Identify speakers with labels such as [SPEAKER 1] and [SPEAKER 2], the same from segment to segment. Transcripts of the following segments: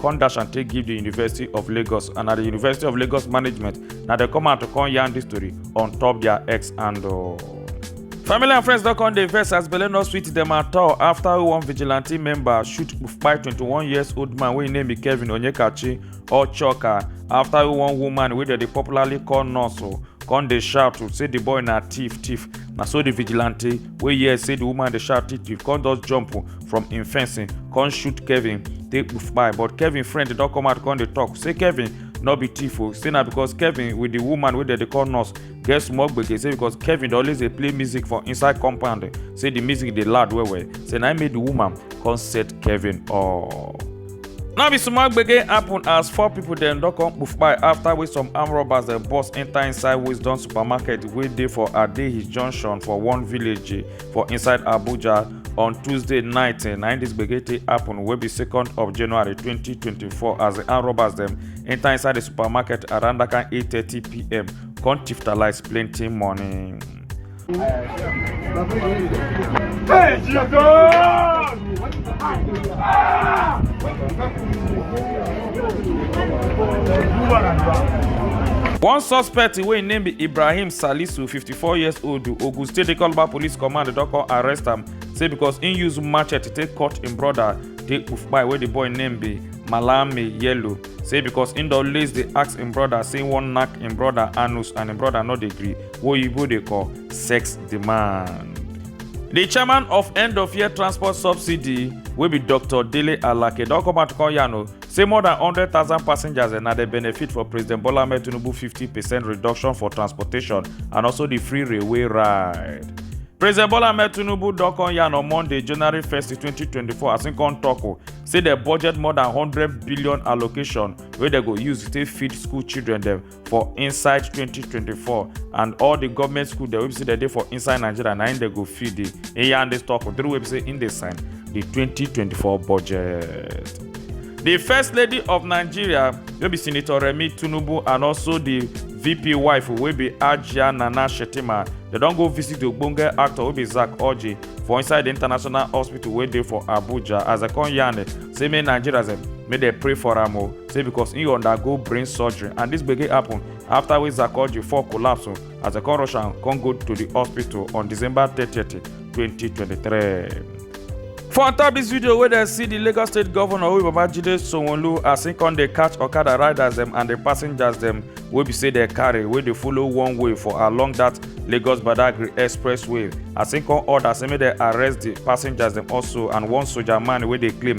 [SPEAKER 1] come dash and take give di university of lagos and na di university of lagos management na dem come out to come yarn dis story on top dia ex handle. family and friends don come dey vex as belle no sweet dem at all afta one vigilante member shoot kpai 21 years old man wey im name be kevin onyekachi ochoka afta one woman wey dem dey popularly call nurse come dey shout say di boy na thief thief na so di vigilante wey hear say the woman dey shout titi come just jump from im fencing come shoot kevin take poof kpai but kevin friend don come out come dey talk say kevin no be thief o say na because kevin with the woman wey dem dey call nurse get small gbege say because kevin dey always dey play music for inside compound say the music dey loud well well say na im make the woman come set kevin up. Now be small gbege happen as four people dem don come kpufpai after wey some armed robbers dem burst enter inside Wisdom supermarket wey dey for Adehi junction for one village eh, for inside Abuja on Tuesday night. Eh, na im this gbege take happen wey be second of January 2024 as the armed robbers dem enter inside the supermarket around that kind 8:30pm come tiftalize plenty money. Hey, One suspect wey im name be Ibrahim Salisu, 54 years old, Ogun State Dey Calabar Police Command don come arrest am say because im use machete take cut im brother dey Ufpai wey the boy name be Malami Yellow. Say because im don lace dey ask im brother say im wan knack im brother anus and im brother no dey gree. wey oyibo dey call sex demand. Di chairman of End of Year Transport Subsidy wey be Dr. Dele Alake don come out to come yarn o say more than hundred thousand passengers na dey benefit for President Bola Ahmed Tinubu fifty percent reduction for transportation and also di free railway ride. President Bola Ahmed Tinubu don come yarn on Monday, January 1st, 2024 as im come tok o say dem budget more than hundred billion allocation wey dem go use take feed school children dem for inside 2024 and all the government school dem wey be say dem dey for inside nigeria na im dem go fit dey eyan dey talk through wey be say im dey sign the 2024 budget. the first lady of nigeria wey be senator remi tinubu and also the vp wife wey be ajia nana shettima dem don go visit the ogbonge actor wey be zack orji for inside the international hospital wey dey for abuja as dem come yarn say make nigerians dem make dem pray for am o say because he undergo brain surgery and this gbege happen after wey Zakoji fall collapse as dem come rush am come go to the hospital on December 30, 2023. For on top this video wey dem see the Lagos State Governor Oyi Babajide Sanwo-Olu as he come dey catch Okada riders dem and the passengers dem wey be say dem carry wey dey follow one way for along that Lagos Badagry Expressway as he come order say make dem arrest the passengers dem also and one soldier man wey dey claim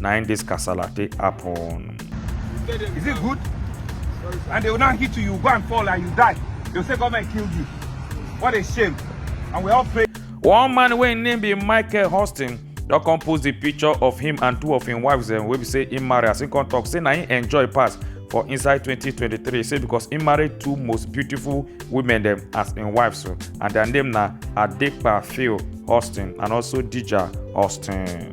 [SPEAKER 1] na im dis kasala take happen. Is it good? And they will now hit you, you go and fall and you die. They'll say government killed you. What a shame. And we all pray. One man wey im name be Michael Huston don come post the picture of him and two of im wives dem wey be say im marry as im come talk say na im enjoy pass for inside 2023 say because im marry two most beautiful women dem as im wives so and their name na Adepa Phil Huston and also Dija Huston.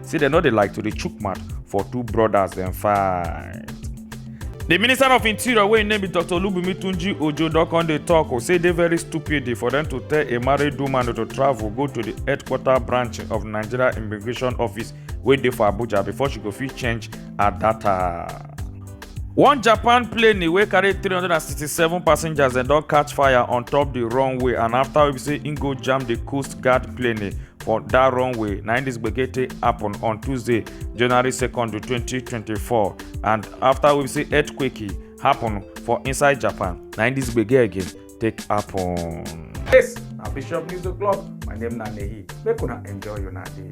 [SPEAKER 1] say dem no dey like to dey chook mouth for two brothers dem fight. di minister of interior wey im name be dr olubunmi tunji ojo don come dey tok o say e dey very stupid for dem to tell a married woman to travel go to di headquarter branch of nigeria immigration office wey dey for abuja before she go fit change her data. one japan plane wey carry 367 passengers dem don catch fire on top di runway and afta wey be say im go jam di coast guard plane for dat runway na im dis gbege take happen on tuesday january 2nd 2024 and afta we say earthquake happen for inside japan na im dis gbege again take happen. yes na bishop news o'clock my name na nehi make una enjoy una day.